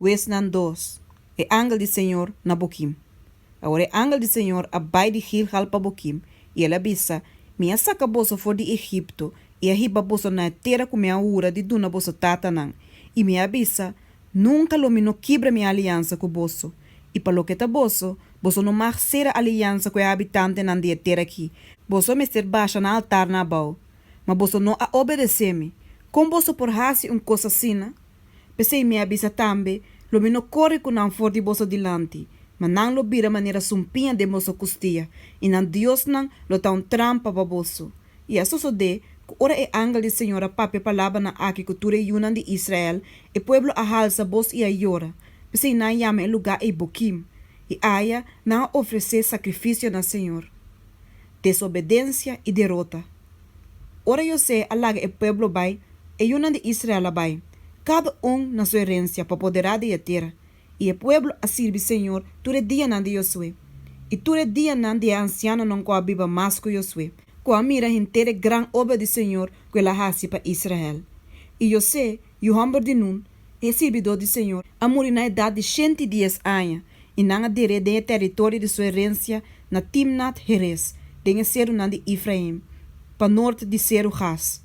Wesnan dos, E angel di Señor na Boquim. Awor e angel di Señor a bai di Gilgal pa Boquim, i el a bisa, Mi a saka boso for di Egipto i a hiba boso na e tera ku mi a hura di duna boso tatanan, i mi a bisa, Nunka lo mi no kibra mi aliansa ku boso. I pa loke ta boso, boso no mag sera aliansa ku e habitantenan di e tera aki, boso a mester basha na altarnan abou. Ma boso no a obedesé mi. Kon boso por hasi un kos asina? P'esei mi a bisa tambe, lo mi no kore ku nan for di boso dilanti, ma nan lo bira manera sumpiña den boso kustia, i nan diosnan lo ta un trampa pa boso. I a sosodé ku ora e angel di Señor a papia palabranan aki ku tur e yunan di Israel, e pueblo a halsa bos i a yora. P'esei nan a yama e lugá ei Bokim, i aya nan a ofresé sakrifisio na Señor. desobedencia y derota. Ora José a laga e pueblo bay, e yunan di Israel a bay, cada un na su herencia pa poderá den e tera, y e pueblo a sirbi Señor tur e dianan di Josué y tur e dianan di e ancianonan cu a biba mas cu Josué, cu a mira henter e gran obra di Señor cu el a haci pa Israel. Y José. Yu hòmber di Nun, e sirbidó di Señor, a muri na edat di shenti dies aña, i nan a der'é den e tèritorio di su erensia na Timnat-Heres, den e serunan di Ifraim, pa nort di seru Gas.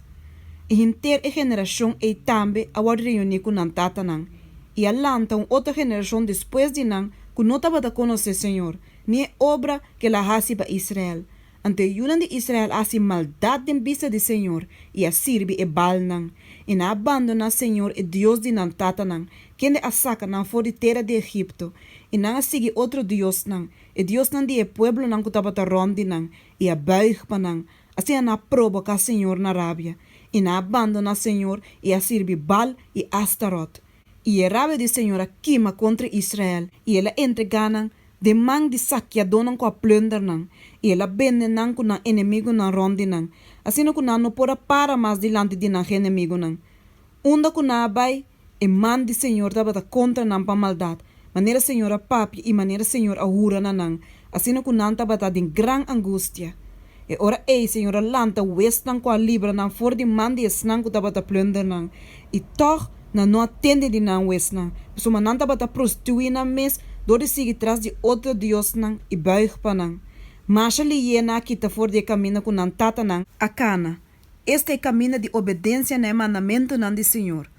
I henter e generashon ei tambe a wòrdu reuní ku nan tatanan, i a lanta un otro generashon despues di nan ku no tabata konosé Señor, ni e obra ku El a hasi pa Israel, Anto e yunan di Israel a hasi maldat den bista di señor, i a sirbi e baalnan, i nan a bandoná señor e Dios di nan tatanan, kende a saka nan for di tera di Egipto, i nan a sigui otro diosnan, e diosnan di e pueblonan ku tabata rònt di nan, i a bùig pa nan. Asina nan a proboká señor na rabia, i nan a bandoná señor, i a sirbi Baal i Astarot. I e rabia di señor a kima kontra Israel, i el a entregá nan den man di sakiadónan ku a plunder nan, i el a bende nan ku nan enemigunan rònt di nan, asina ku nan no por a para mas dilanti di nan genemigunan. Unda ku nan a bai, e man di Señor tabata kontra nan pa maldat, manera Señor a papia i manera Señor a hura na nan, asina ku nan tabata den gran angustia. E ora ei Señor a lanta wesnan ku a libra nan for di man di esnan ku tabata plunder nan, i tòg, Nan no a tende di nan wesnan, suma nan tabata prostituí nan mes dor di sigui tras di otro diosnan i bùig pa nan. Masha Liyeana a kita for di e kaminda ku nan tatanan. A kana, Esta e kaminda di obedensia na e mandamentunan di Señor.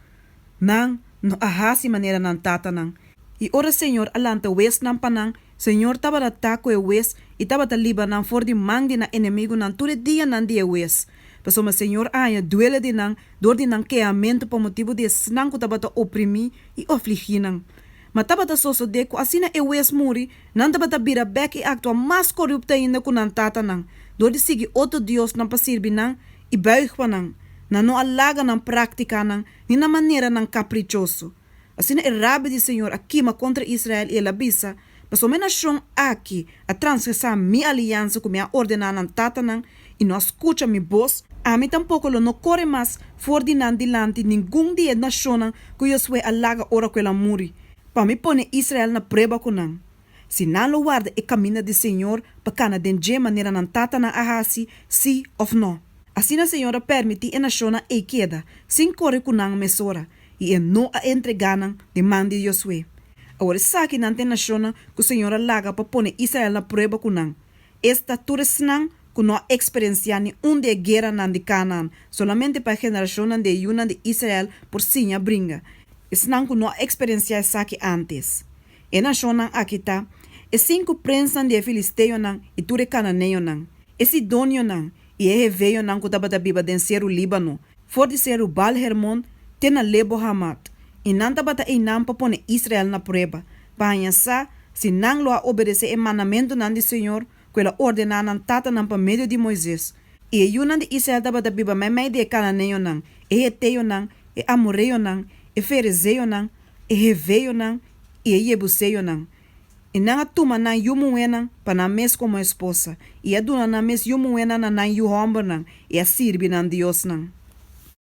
Nan no a hasi manera nan tatanan. I ora Señor a lanta wes nan pa nan, Señor tabata ta cu e wes y tabata liba nan for di man di nan enemigunan tur e dianan di e wes. Pasobra Señor a haña duele di nan dor di nan kehamento pa motibu di esnan cu tabata oprimí y ofligí nan. Ma tabata sosode cu asina e wes muri, nan tabata bira bek y actua mas corupto ainda cu nan tatanan, dor di sigui otro diosnan pa sirbi nan y buig pa nan. Nan no a laga nan practicanan ni nan maneranan caprichoso. Asina e rabi di Señor a kima contra Israel i el a bisa, Pasobra e nacion aki a transgresa mi aliansa cu mi a ordena nan tatanan i no a scucha mi boz, ami tampoco lo no core mas for di nan dilanti ningun di e nacionnan cu Josué a laga ora cu el a muri, pa mi pone Israel na prueba cu nan. Si nan lo warda e caminda di Señor pa cana den dje manera nan tatanan a haci, sí of no. Asina Señor a permiti e nacionnan ei keda, sin core cu nan mesora, i e no a entregá nan den man di Josué. Awor esaki nan ta e nashonnan ku Señor a laga pa pone Israel na prueba ku nan. Es ta tur esnan ku no a eksperensiá ni un di e gueranan di Kanaan, solamente pa e generashonnan di e yunan di Israel por siña bringa, esnan ku no a eksperensiá esaki ántes. E nashonnan aki ta, e sinku prensnan di e filisteonan i tur e kananeonan, e sidonionan i e heveonan ku tabata biba den seru Líbano, for di seru Baal-Hermon te na Lebo-Hamat, i nan tabata einan pa pone Israel na prueba, pa haña sa si nan lo a obedesé e mandamentunan di Señor ku el a ordená nan tatanan pa medio di Moises. I e yunan di Israel tabata biba meimei di e kananeonan, e heteonan, e amoreonan, e ferezeonan, e heveonan i e yebuseonan. I nan a tuma nan yu muhénan pa nan mes komo esposa, i a duna nan mes yu muhénan na nan yu hòmbernan, i a sirbi nan diosnan.